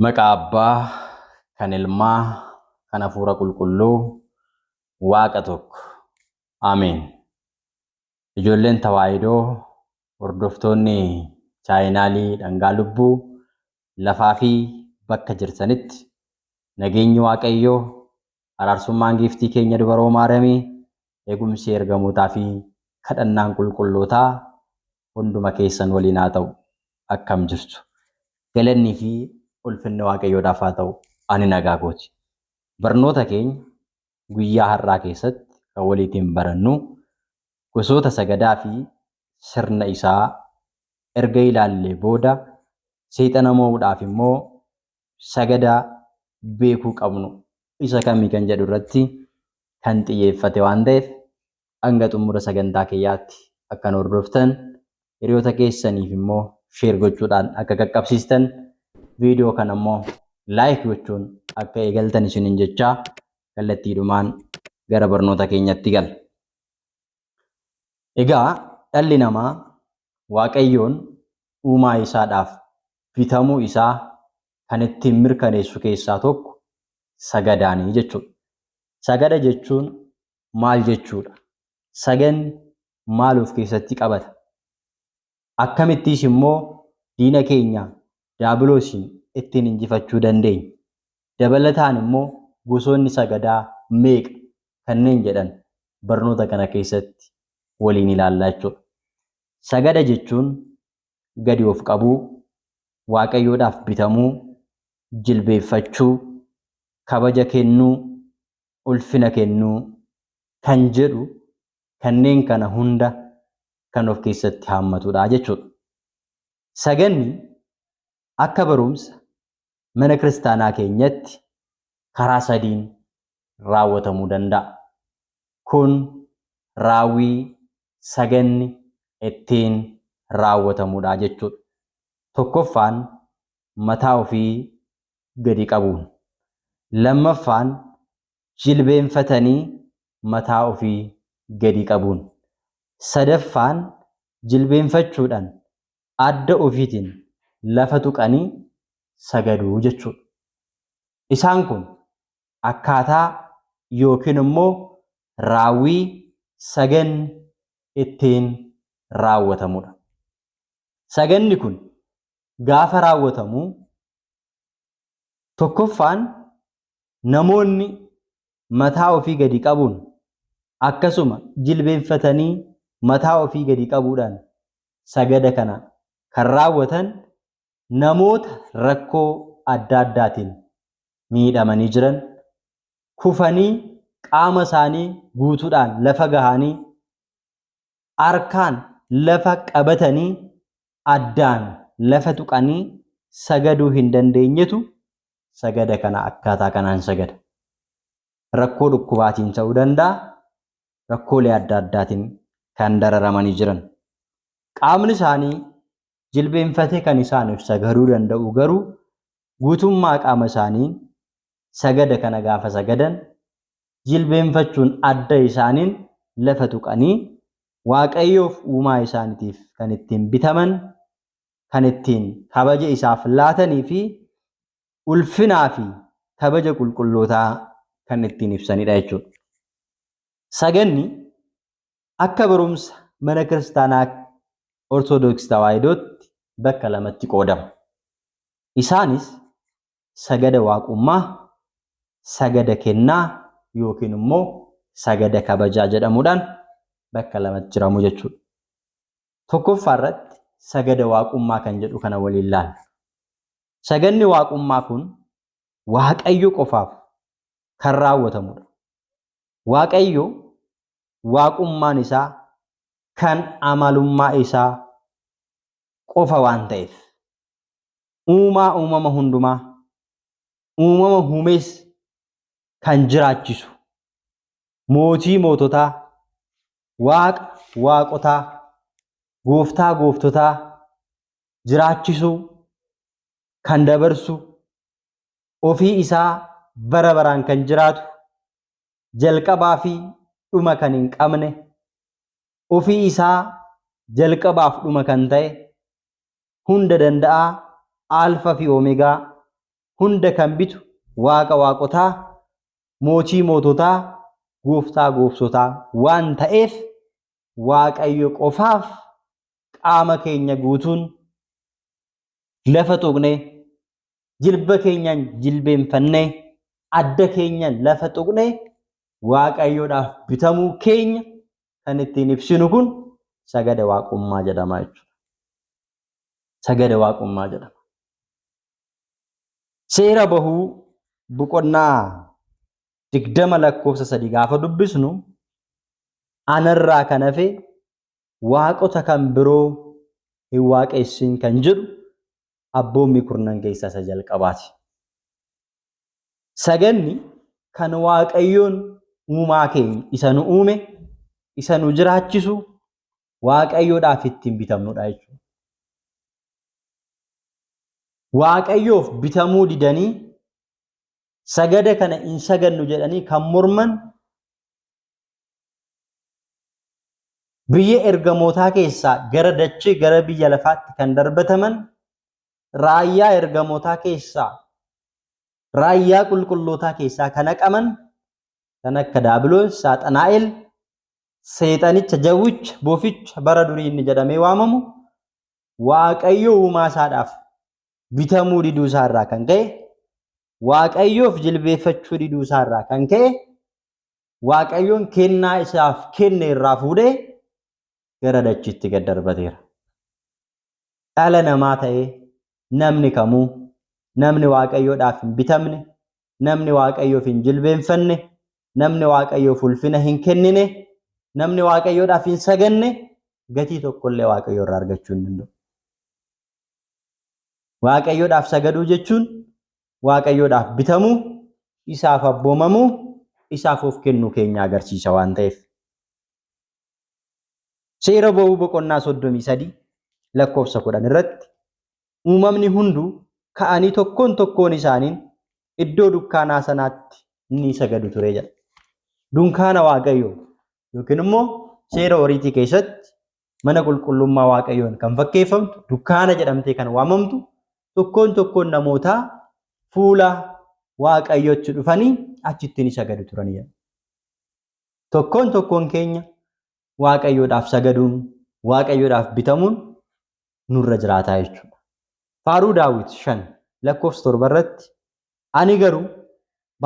Maqaa Abbaa, kan Ilmaa, kan Hafuura Qulqulluu, Waaqa tokko. Ameen. Ijoolleen Tawaahidoo, hordoftoonni chaayinaalii Dhangaa Lubbuu, lafaa fi bakka jirtanitti nageenyi Waaqayyoo araarsummaan giiftii keenya dubaroo Maariyamii, eegumsi ergamootaa fi kadhannaan qulqullootaa hunduma keessan waliin haa ta'u. Akkam jirtu? Galannii fi ulfinni Waaqayyoodhaaf haa ta'u. Ani nagaa kooti. Barnoota keenya guyyaa har'aa keessatti kan waliitiin barannu gosoota sagadaa fi sirna isaa erga ilaallee booda seexana moo'uudhaaf immoo sagadaa beekuu qabnu isa kami kan jedhu irratti kan xiyyeeffate waan ta'eef hanga xumura sagantaa kiyyaatti akkan hordoftan hiriyoota keessaniif immoo sheer gochuudhaan akka qaqqabsiistan viidiyoo kana immoo laayik gochuun akka eegaltan isinin jechaa kallattiidhumaan gara barnoota keenyatti gala. Egaa dhalli namaa waaqayyoon uumaa isaadhaaf bitamuu isaa kan ittiin mirkaneessu keessaa tokko sagadaani jechuudha. Sagada jechuun maal jechuudha? Sagadni maal of keessatti qabata? Akkamittiis immoo diina keenya Daabiloosiin ittiin injifachuu dandeenya? Dabalataan immoo gosoonni sagadaa meeqa? Kanneen jedhan barnoota kana keessatti waliin ilaalla jechuudha. Sagada jechuun gadi of qabuu, Waaqayyoodhaaf bitamuu, jilbeeffachuu, kabaja kennuu, ulfina kennuu kan jedhu kanneen kana hunda kan of keessatti haammatudha jechuudha. Saganni akka barumsa mana kiristaanaa keenyatti karaa sadiin raawwatamuu danda'a. Kun raawwii saganni ittiin raawwatamudha jechuudha. Tokkoffaan mataa ofii gadi qabuun. Lammaffaan jilbeenfatanii mataa ofii gadi qabuun. Sadaffaan jilbeenfachuudhaan adda ofiitiin lafa tuqanii sagadu jechuudha. Isaan kun akkaataa yookiin immoo raawwii saganni ittiin raawwatamudha. Saganni kun gaafa raawwatamu tokkoffaan namoonni mataa ofii gadi qabuun akkasuma jilbeenfatanii mataa ofii gadi qabuudhaan sagada kana kan raawwatan namoota rakkoo adda addaatiin miidhamanii jiran kufanii qaama isaanii guutuudhaan lafa gahaanii harkaan lafa qabatanii addaan lafa tuqanii sagaduu hin dandeenyetu sagada kana akkaataa kanaan sagada. Rakkoo dhukkubaatiin ta'uu danda'a, rakkoolee adda addaatiin kan dararamanii jiran. Qaamni isaanii jilbeenfatee kan isaaniif sagaduu danda'u garuu guutummaa qaama isaaniin sagada kana gaafa sagadan jilbeenfachuun adda isaaniin lafa tuqanii waaqayyoof uumaa isaaniitiif kan ittiin bitaman kan ittiin kabaja isaaf laatanii fi ulfinaa fi kabaja qulqullootaa kan ittiin ibsanidha jechuudha. Saganni akka barumsa mana kiristaanaa Ortodoks Tawaahidootti bakka lamatti qoodama. Isaanis sagada waaqummaa, sagada kennaa yookiin immoo sagada kabajaa jedhamuudhaan bakka lamatti jiramu jechuudha. Tokkoffaa irratti sagada waaqummaa kan jedhu kana waliin laalla. Sagadni waaqummaa kun Waaqayyo qofaaf kan raawwatamudha. Waaqayyo waaqummaan isaa kan amalummaa isaa qofa waan ta'eef uumaa uumama hundumaa uumama humees kan jiraachisu Mootii moototaa, Waaqa waaqotaa, Gooftaa gooftotaa, jiraachisuu, kan dabarsu, ofii isaa bara baraan kan jiraatu, jalqabaa fi dhuma kan hin qabne, ofii isaa jalqabaaf dhuma kan ta'e, hunda danda'aa, Aalfa fi Omegaa, hunda kan bitu Waaqa waaqotaa, mootii moototaa gooftaa gooftotaa waan ta'eef waaqayyo qofaaf qaama keenya guutuun lafa tuqne jilba keenyaan jilbeenfanne adda keenya lafa tuqne waaqayyoodhaaf bitamuu keenya kan ittiin ibsinu kun sagada waaqummaa jedhama jechuudha. Sagada waaqummaa jedhama. Seera bahuu boqonnaa digdama lakkoofsa sadi gaafa dubbisnu anarraa kan hafe waaqota kan biroo hin waaqessin kan jedhu abboommii kurnan keessaa isa jalqabaati. Saganni kan waaqayyoon uumaa keenya isa nu uume, isa nu jiraachisu, Waaqayyoodhaaf ittiin bitamnudha jechuudha. Waaqayyoof bitamuu didanii sagada kana hin sagannu jedhanii kan morman biyya ergamootaa keessaa gara dachee gara biyya lafaatti kan darbataman raayyaa ergamootaa keessaa raayyaa qulqullootaa keessaa kan haqaman kan akka daabiloos saaxanaa'el seexanicha, jawwicha, boficha bara durii inni jedhamee waamamu waaqayyo uumaa isaadhaaf bitamuu diduu isaa irraa kan ka'e waaqayyoof jilbeeffachuu diduu isaa irraa kan ka'e waaqayyoon kennaa isaaf kenne irraa fuudhee gara dachiitti gad darbateera. Dhala namaa ta'ee namni kamuu namni waaqayyoodhaaf hin bitamne namni waaqayyoof hin jilbeenfanne, namni waaqayyoof ulfina hin kennine, namni waaqayyoodhaaf hin saganne gatii tokkollee waaqayyoo irraa argachuu hin danda'u. Waaqayyoodhaaf sagaduu jechuun waaqayyoodhaaf bitamuu, isaaf abboomamuu, isaaf of kennuu keenya agarsiisa waan ta'eef. Seera ba'uu boqonnaa soddomii sadii lakkoofsa kudhan irratti uumamni hunduu ka'anii tokkoon tokkoon isaaniin iddoo dukkaanaa sanaatti ni sagadu ture jedha. Dunkaana Waaqayyoo yookiin immoo seera horiitii keessatti mana qulqullummaa Waaqayyoon kan fakkeeffamtu dukkaana jedhamtee kan waamamtu tokkoon tokkoon namootaa fuula Waaqayyootti dhufanii achitti ni sagadu turan jedha. Tokkoon tokkoon keenya Waaqayyoodhaaf sagaduun Waaqayyoodhaaf bitamuun nurra jiraataa jechuudha. Faaruu Daawit 5 lakkoofsa 7 irratti ani garuu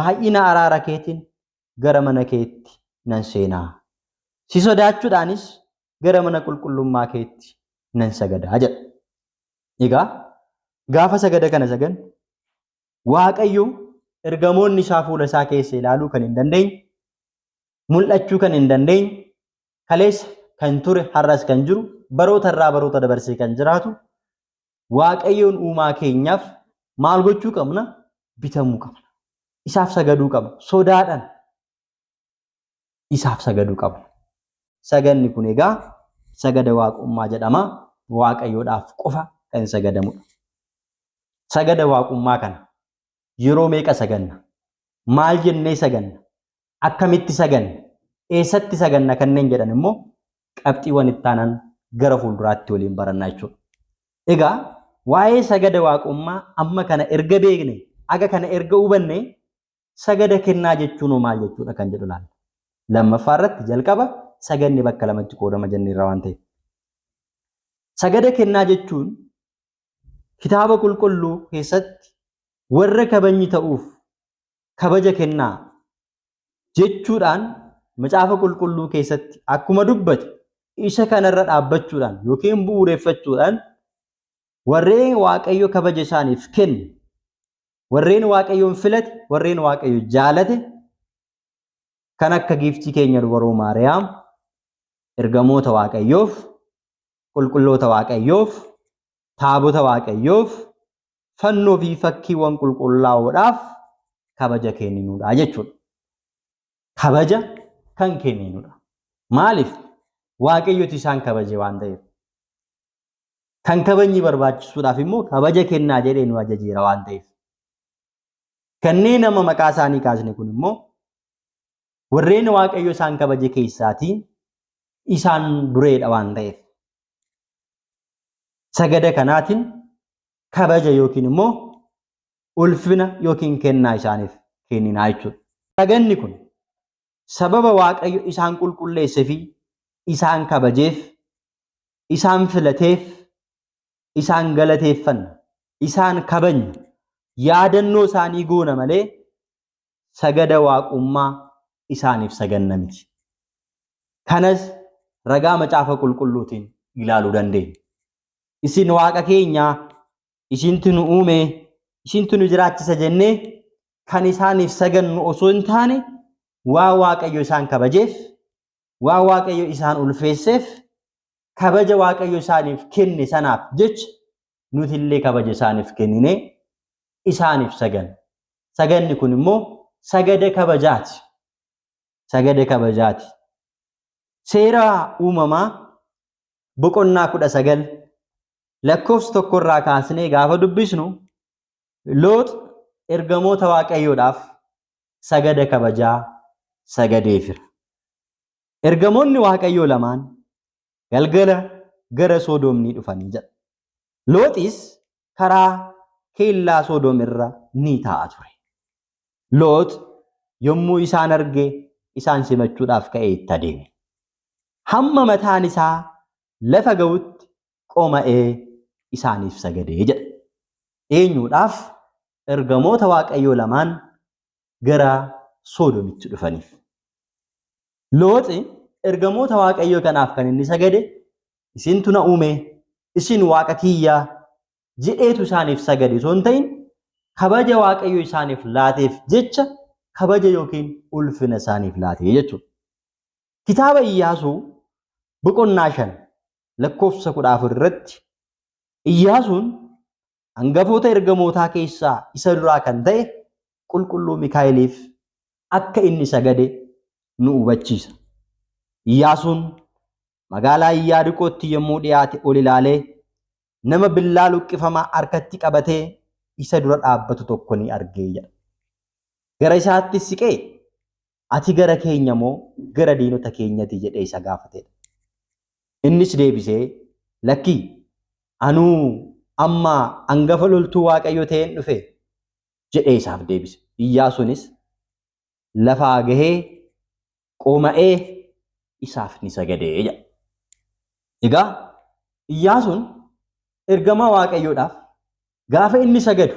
baay'ina araara keetiin gara mana keetti nan seenaa. Si sodaachuudhaanis gara mana qulqullummaa keetti nan sagadaa jedha. Egaa gaafa sagada kana sagan Waaqayyo ergamoonni isaa fuula isaa keessa ilaaluu kan hin dandeenye, mul'achuu kan hin dandeenye, kaleessa kan ture har'as kan jiru baroota irraa baroota dabarsee kan jiraatu waaqayyoon uumaa keenyaaf maal gochuu qabna bitamuu qabna isaaf sagaduu qabna sodaadhaan isaaf sagaduu qabna saganni kun egaa sagada waaqummaa jedhama waaqayyoodhaaf qofa kan sagadamudha sagada waaqummaa kana yeroo meeqa saganna maal jennee saganna akkamitti saganna, eessatti saganna kanneen jedhan immoo qabxiiwwan itti aanan gara fuulduraatti waliin barannaa jechuudha. Egaa waa'ee sagada waaqummaa amma kana erga beekne, aga kana erga hubanne sagada kennaa jechuun hoo maal jechuudha kan jedhu ilaalla. Lammaffaa irratti jalqaba saganni bakka lamatti qoodama jennee irraa waan ta'eef. Sagada kennaa jechuun kitaaba qulqulluu keessatti warra kabajni ta'uuf kabaja kennaa jechuudhaan macaafa qulqulluu keessatti akkuma dubbate isa kanarra dhaabbachuudhaan yookiin bu'uureffachuudhaan warreen waaqayyo kabaja isaaniif kenne warreen waaqayyoon filate warreen waaqayyo jaalate kan akka giiftii keenya dubaroo maariyaam ergamoota waaqayyoof qulqulloota waaqayyoof taabota waaqayyoof fannoo fi fakkiiwwan qulqullaa'oodhaaf kabaja kenninudha jechuudha. Kabaja kan kenninudha. Maaliif? Waaqayyotu isaan kabaje waan ta'eef. Kan kabajni barbaachisuudhaaf immoo kabaja kennaa jedhee nu ajajeera waan ta'eef. Kanneen amma maqaa isaanii kaasne kun immoo warreen waaqayyo isaan kabaje keessaatii isaan dureedha waan ta'eef. Sagada kanaatiin kabaja yookiin immoo ulfina yookiin kennaa isaaniif kenninaa jechuudha. Saganni kun sababa Waaqayyo isaan qulqulleessee fi isaan kabajeef, isaan filateef, isaan galateeffanna, isaan kabajna, yaadannoo isaanii goona malee sagada waaqummaa isaaniif saganna miti. Kanas ragaa macaafa qulqulluutiin ilaaluu dandeenya. Isin waaqa keenya isintu nu uume isintu nu jiraachisa jennee kan isaaniif sagannu osoo hin taane waa waaqayyo isaan kabajeef waan waaqayyo isaan ulfeesseef kabaja waaqayyo isaaniif kenne sanaaf jecha nuti illee kabaja isaaniif kennine isaaniif saganne. Saganni kun immoo sagada kabajaati. Sagada kabajaati. Seera uumamaa boqonnaa kudha sagal lakkoofsa tokkorraa kaasnee gaafa dubbisnu loox ergamoota waaqayyoodhaaf sagada kabajaa sagadeefira. Ergamoonni Waaqayyoo lamaan galgala gara Soodoom ni dhufan jedha. Looxis karaa keellaa Soodoom irra ni taa'a ture. Loox yommuu isaan arge isaan simachuudhaaf ka'ee itti adeeme. Hamma mataan isaa lafa ga'utti qoma'ee isaaniif sagadee jedha. Eenyuudhaaf? ergamoota Waaqayyoo lamaan gara Soodomitti dhufaniif. Looxi ergamoota Waaqayyoo kanaaf kan inni sagade isintu na uume, isin waaqa kiyyaa jedheetu isaaniif sagade osoo hin ta'in kabaja Waaqayyo isaaniif laateef jecha kabaja yookiin ulfina isaaniif laatee jechuudha. Kitaaba Iyyaasuu boqonnaa shan lakkoofsa kudha afur irratti Iyyaasuun hangafoota ergamootaa keessaa isa duraa kan ta'e qulqulluu Mikaa'eliif akka inni sagade nu hubachiisa. Iyyaasuun magaalaa Iyyaariqootti yommuu dhiyaate ol ilaalee nama billaa luqqifamaa harkatti qabatee isa dura dhaabbatu tokko ni arge jedha. Gara isaatti siqee Ati gara keenya moo gara diinota keenyati jedhee isa gaafateedha. Innis deebisee lakkii anuu amma angafa loltuu Waaqayyo ta'een dhufe jedhee isaaf deebise. Iyyaasuunis lafaa gahee qooma'ee isaaf ni sagadee jedha. Egaa Iyyaasuun ergamaa Waaqayyoodhaaf gaafa inni sagadu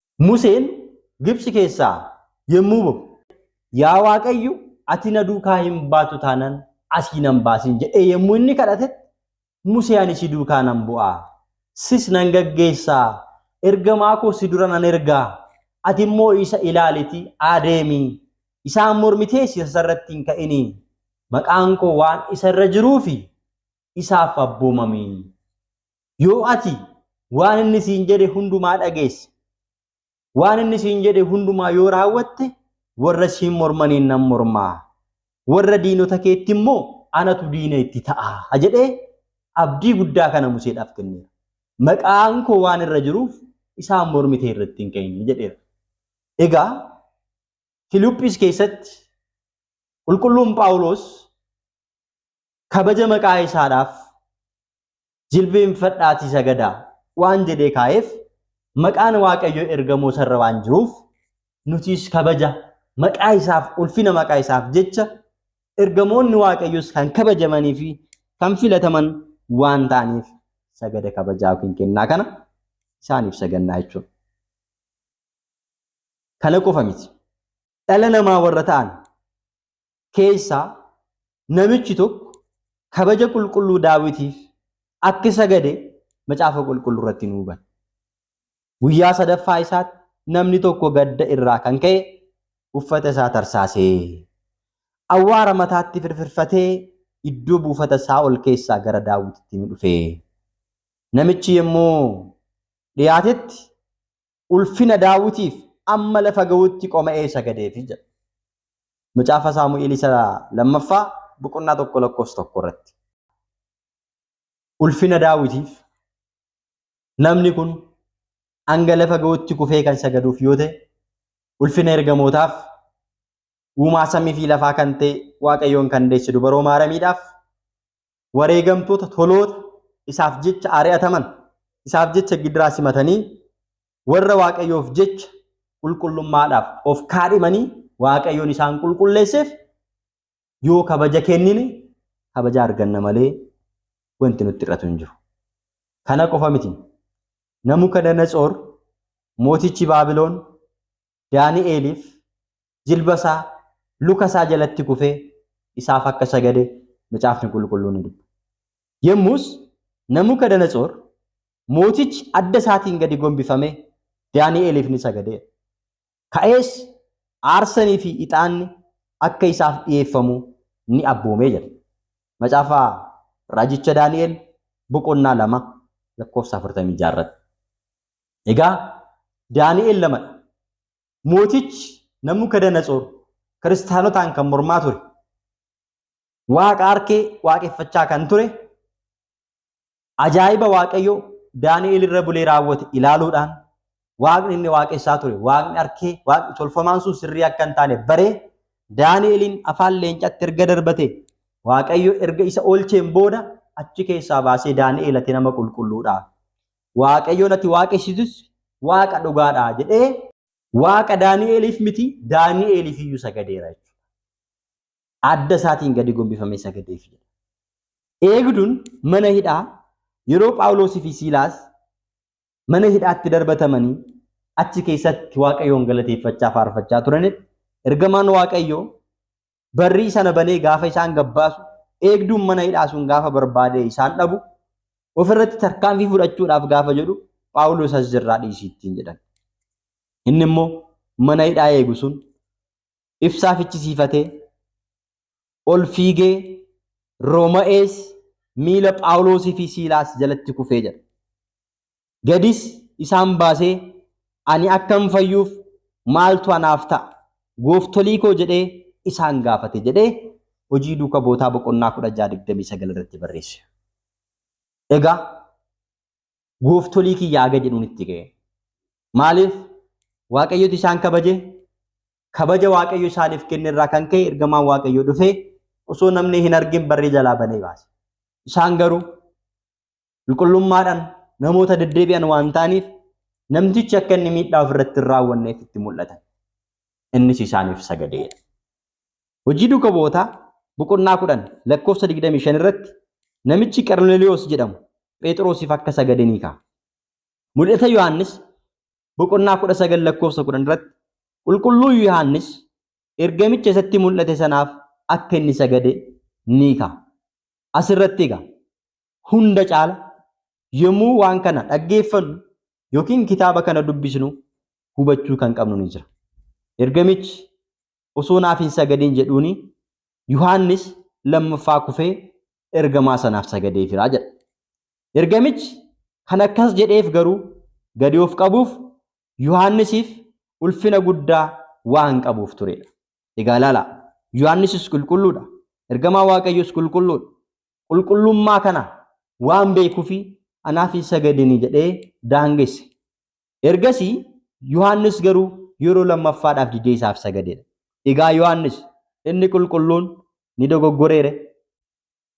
Museen Gibtsi keessaa yommuu ba'u. Yaa Waaqayyo, ati na duukaa hin baatu taanaan asii nan baasin jedhee yommuu inni kadhatetti, Musee ani si duukaa nan bu'a, sis nan gaggeessa, ergamaa koo si dura nan erga, ati immoo isa ilaaliti adeemi, isaan mormitees isa irratti hin ka'ini, maqaan koo waan isa irra jiruufi isaaf abboomami. Yoo ati waan inni siin jedhe hundumaa dhageesse, waan inni siin jedhe hundumaa yoo raawwatte, warra siin mormaniin nan mormaa, warra diinota keetti immoo anatu diina itti ta'a jedhee abdii guddaa kana Museedhaaf kenneera. Maqaan koo waan irra jiruuf isaan mormitee irratti hin ka'in jedheera. Egaa Filiphis keessatti qulqulluun Phaawulos kabaja maqaa isaadhaaf jilbeenfadhaatii sagadaa waan jedhee kaa'eef maqaan waaqayyo ergamoo sarra waan jiruuf nutis kabaja maqaa isaaf ulfina maqaa isaaf jecha ergamoonni waaqayyos kan kabajamanii fi kan filataman waan ta'aniif sagada kabajaa yookiin kennaa kana isaaniif sagannaa jechuudha. Kana qofa miti. Dhala namaa warra ta'an keessaa namichi tokko kabaja qulqulluu daawitiif akka sagade macaafa qulqulluu irratti nu hubanna. Guyyaa sadaffaa isaatti namni tokko gadda irraa kan ka'e uffata isaa tarsaasee awwaara mataatti firfirfatee iddoo buufata isaa ol keessaa gara daawwititti ni dhufe. Namichi yommuu dhiyaatetti ulfina daawwitiif amma lafa ga'utti qoma'ee sagadeefi jedha. Macaafa Saamu'eel isa lammaffaa boqonnaa tokko lakkoofsa tokko irratti. Ulfina daawwitiif namni kun hanga lafa ga'utti kufee kan sagaduuf yoo ta'e ulfina ergamootaaf uumaa samii fi lafaa kan ta'e waaqayyoon kan deesse dubaroo maaramiidhaaf wareegamtoota toloota isaaf jecha ari'ataman isaaf jecha gidiraa simatanii warra waaqayyoof jecha qulqullummaadhaaf of kaadhimanii waaqayyoon isaan qulqulleesseef yoo kabaja kennine kabaja arganna malee wanti nutti hir'atu hin jiru. Kana qofa miti. Namukadanatsoor mootichi Baabiloon Daani'eeliif jilba isaa luka isaa jalatti kufee isaaf akka sagade macaafni qulqulluun ni dubba. Yommus Nabukadanatsoor mootichi adda isaatiin gadi gombifamee Daani'eeliif ni sagadeera. Ka'ees aarsanii fi ixaanni akka isaaf dhiyeeffamu ni abboomee jira. Macaafa raajicha Daani'eel boqonnaa lama lakkoofsa afurtamii ja'a irratti. Egaa Daani'el lamadha. Mootichi Nabukadanatsoor kiristaanotaan kan mormaa ture. Waaqa harkee waaqeffachaa kan ture ajaa'iba waaqayyo Daani'el irra bulee raawwate ilaaluudhaan waaqni inni waaqessaa ture waaqni harkee waaqni tolfamaan sun sirrii akka hin taane baree Daani'eliin afaan leencatti erga darbate waaqayyo erga isa oolcheen booda achi keessaa baasee Daani'el ati nama qulqulluudha. Waaqayyoon ati waaqessitus Waaqa dhugaadha jedhee. Waaqa Daani'eeliif miti, Daani'eeliif iyyuu sagadeera jechuudha. Adda isaatiin gadi gombifamee sagadeef jedha. Eegduun mana hidhaa yeroo Phaawuloosii fi Siilaas mana hidhaatti darbatamanii achi keessatti Waaqayyoon galateeffachaa faarfachaa turanitti ergamaan Waaqayyoo barrii sana banee gaafa isaan gabbaasu eegduun mana hidhaa sun gaafa barbaadee isaan dhabu ofirratti tarkaanfii fudhachuudhaaf gaafa jedhu Phaawulos as jirraa dhiisii ittiin jedhan. Inni immoo mana hidhaa eegu sun ibsaa fichisiifatee ol fiigee Rooma'ees miila Phaawulosii fi Siilaas jalatti kufee jedha. Gadis isaan baasee ani akkan fayyuuf maaltu anaaf ta'a? Gooftolii koo jedhee isaan gaafate jedhee Hojii Duuka Bootaa boqonnaa 16 29 irratti barreesse. Egaa gooftolii kiyya haga jedhuun itti ga'e. Maaliif Waaqayyotu isaan kabaje? Kabaja Waaqayyo isaaniif kenne irraa kan ka'e ergamaan Waaqayyoo dhufee osoo namni hin argin barrii jalaa banee baase. Isaan garuu qulqullummaadhaan namoota deddeebi'an waan ta'aniif namtichi akka inni miidhaa ofirratti hin raawwanneef itti mul'atan. Innis isaaniif sagadeedha. Hojii duuka bu'ootaa boqonnaa kudhan lakkoofsa 25 irratti namichi Qarneliyoos jedhamu Phexrosiif akka sagade ni ka'a. Mul'ata Yohaannis boqonnaa 19 lakkoofsa 10 irratti qulqulluu Yohaannis ergamicha isatti mul'ate sanaaf akka inni sagade ni ka'a. Asirratti egaa Hunda caala yommuu waan kana dhaggeeffannu yookiin kitaaba kana dubbisnu hubachuu kan qabnu ni jira. Ergamichi osoo naaf hin sagadin jedhuuni Yohaannis lammaffaa kufee ergamaa sanaaf sagadee jira jedha. Ergamichi kan akkas jedheef garuu gadi of qabuuf Yohaannisiif ulfina guddaa waan qabuuf turedha. Egaa ilaalaa Yohaannisis qulqulluudha. Ergamaa Waaqayyoos qulqulluudha. qulqullummaa kana waan beekuufi anaaf hin sagadini jedhee daangesse. Ergasii Yohaannis garuu yeroo lammaffaadhaaf didee isaaf sagadeera. Egaa Yohaannis inni qulqulluun ni dogoggoreere.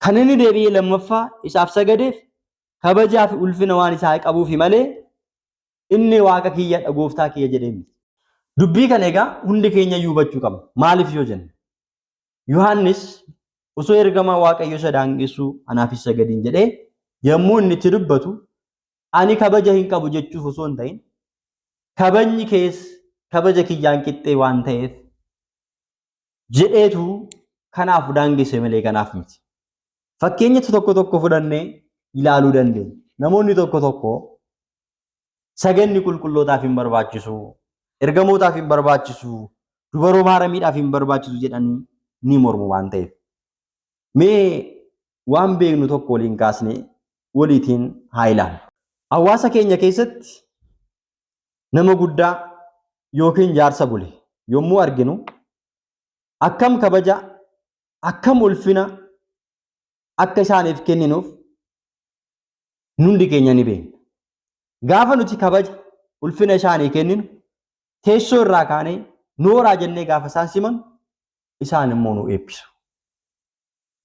Kan inni deebi'ee lammaffaa isaaf sagadeef kabajaa fi ulfina waan isaa qabuufi malee inni waaqa kiyyadha gooftaa kiyya jedhee miti. Dubbii kana egaa hundi keenya iyyuu hubachuu qabna. Maaliif yoo jenne Yohaannis osoo ergamaa Waaqayyo isa daangessuu anaaf isa gadiin jedhee yommuu inni itti dubbatu ani kabaja hin qabu jechuuf osoo hin ta'in kabajni kees kabaja kiyyaan qixxee waan ta'eef jedheetu kanaaf daangesse malee kanaaf miti. Fakkeenya tokko tokko fudhannee ilaaluu dandeenya. Namoonni tokko tokko Saganni qulqullootaaf hin barbaachisu, ergamootaaf hin barbaachisu, dubaroo maaramiidhaaf hin barbaachisu jedhanii ni mormu waan ta'eef. Mee waan beeknu tokko waliin kaasne waliitiin haa ilaallu. Hawaasa keenya keessatti nama guddaa yookiin jaarsa bule yommuu arginu akkam kabaja, akkam ulfina akka isaaniif kenninuuf Nundi keenya ni beekna. Gaafa nuti kabaja ulfina isaanii kenninu teessoo irraa kaanee nooraa jennee gaafa isaan simanu isaan immoo nu eebbisu.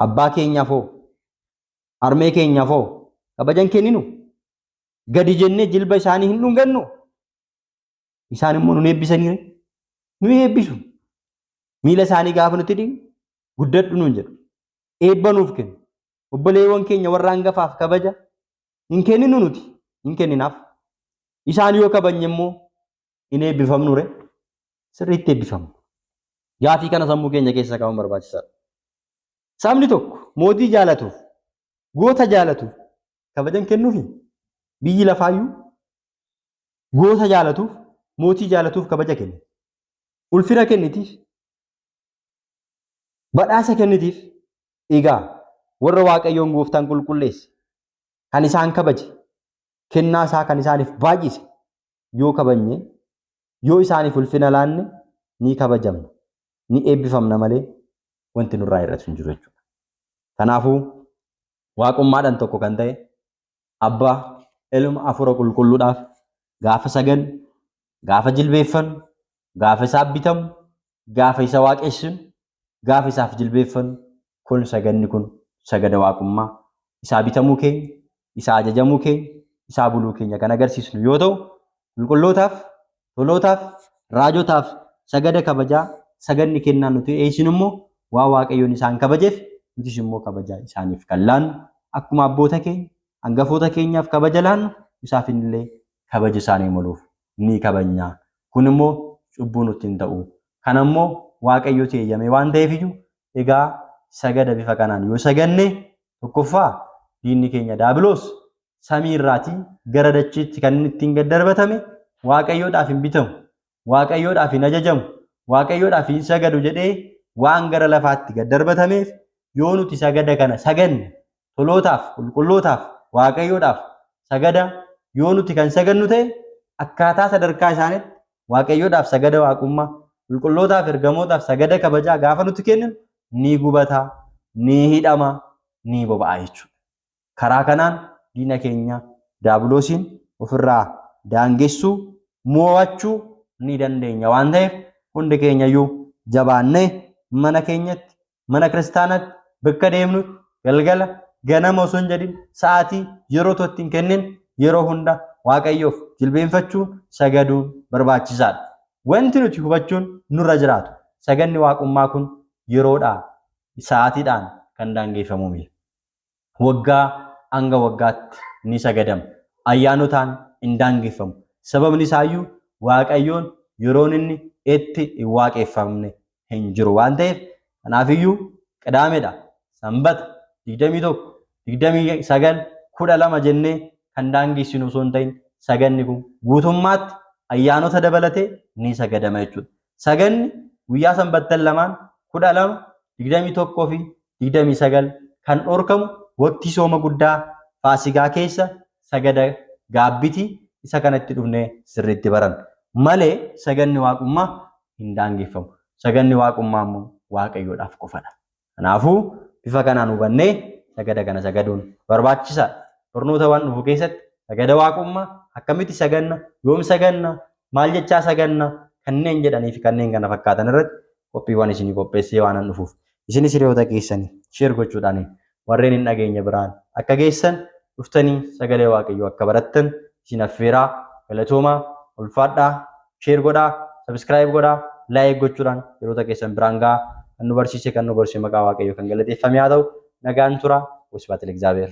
Abbaa keenyaaf hoo harmee keenyaaf hoo kabajan kenninu gadi jennee jilba isaanii hin dhungannu isaan immoo nu eebbisanii nu eebbisu. Miila isaanii gaafa nuti dhiqnu guddadhu nuun jedhu eebba nuuf kennu obboleewwan keenya warra hangafaaf kabaja hin kenninu nuti hin kenninaaf. Isaan yoo kabajne immoo hin eebbifamnu ree sirriitti eebbifamna. Gaafii kana sammuu keenya keessa kaa'uun barbaachisaadha. Sabni tokko mootii jaalatuuf goota jaalatuuf kabajan kennuufi biyyi lafaayyuu goota jaalatuuf mootii jaalatuuf kabaja kenna. Ulfina kennitiif Badhaasa kennitiif. Egaa warra Waaqayyoon gooftaan qulqulleesse, kan isaan kabaje, kennaa isaa kan isaaniif baay'ise yoo kabajne, yoo isaaniif ulfina laanne ni kabajamna, ni eebbifamna malee wanti nurraa hir'atu hin jiru jechuudha. Kanaafuu waaqummaadhaan tokko kan ta'e abbaa ilma hafuura qulqulluudhaaf gaafa sagadnu Gaafa jilbeeffannu, gaafa isaaf bitamu, gaafa isa waaqessinu, gaafa isaaf jilbeeffannu kun sagadni kun sagada waaqummaa, isaa bitamuu keenya, isaa ajajamuu keenya, isaa buluu keenya kan agarsiisnu yoo ta'u, qulqullootaaf, tolootaaf, raajotaaf sagada kabajaa, sagadni kennaan nuti dhiyeessinu immoo waan Waaqayyoon isaan kabajeef nutis immoo kabajaa isaaniif kan laannu akkuma abboota keenya, hangafoota keenyaaf kabaja laannu isaafin illee kabaja isaanii maluuf ni kabajna. Kun immoo cubbuu nutti hin ta'u. Kana immoo Waaqayyotu eeyyamee waan ta'eef iyyuu egaa sagada bifa kanaan yoo saganne tokkoffaa diinni keenya daabiloos samii irraatii gara dachiitti kan inni ittiin gad darbatame Waaqayyoodhaaf hin bitamu. Waaqayyoodhaaf hin ajajamu, Waaqayyoodhaaf hin sagadu jedhee waan gara lafaatti gad darbatameef yoo nuti sagada kana saganne tolootaaf, qulqullootaaf, Waaqayyoodhaaf sagada yoo nuti kan sagannu ta'e akkaataa sadarkaa isaanitti Waaqayyoodhaaf sagada waaqummaa, qulqullootaaf ergamootaaf sagada kabajaa gaafa nuti kenninu ni gubata, ni hidhama, ni boba'a jechuudha. Karaa kanaan diina keenya Daabiloosiin ofirraa daangessuu, moo'achuu ni dandeenya waan ta'eef hundi keenyayyuu jabaannee mana keenyatti, mana kiristaanaatti, bakka deemnutti, galgala, ganama osoo hin jedhin sa'aatii, yeroo otoo itti hin kennin yeroo hunda Waaqayyoof jilbeenfachuun, sagaduun barbaachisaadha. Wanti nuti hubachuun nurra jiraatu saganni Waaqummaa kun yeroodhaa, sa'aatiidhaan kan daangeeffamu miti. waggaa hanga waggaatti ni sagadama. Ayyaanotaan hin daangeffamu. Sababni isaayyuu Waaqayyoon yeroon inni itti hin waaqeffamne hin jiru waan ta'eef kanaafiyyuu Qidaamedha, Sanbata, 21, 29, 12 jennee kan daangessinu osoo hin ta'in saganni kun guutummaatti ayyaanota dabalatee ni sagadama jechuudha. Saganni guyyaa sanbattan lamaan 12, 21 fi 29 kan dhorkamu waqtii sooma guddaa faasigaa keessa sagada gaabbiti isa kana itti dhufne sirriitti baran malee saganni waaqummaa hin daangeffamu. Saganni waaqummaa immoo waaqayyoodhaaf qofadha. Kanaafuu bifa kanaan hubannee sagada kana sagaduun barbaachisaadha. Barnoota waan dhufu keessatti sagada waaqummaa akkamitti saganna, yoom saganna, maal jechaa saganna kanneen jedhanii fi kanneen kana fakkaatan irratti qophiiwwan isinii qopheessee waanan dhufuuf isinis hiriyoota keessanii sheer gochuudhaan warreen hin dhageenye biraan akka geessan dhuftanii sagalee waaqayyoo akka barattan isin affeeraa galatoomaa ulfaadhaa sheer godhaa sabiskiraayib godhaa laayik gochuudhaan yeroota keessan biraan gahaa kan nu barsiise kan nu gorse maqaa waaqayyoo kan galateeffame haa ta'u nagaan tura wasbaat ilexaabeer.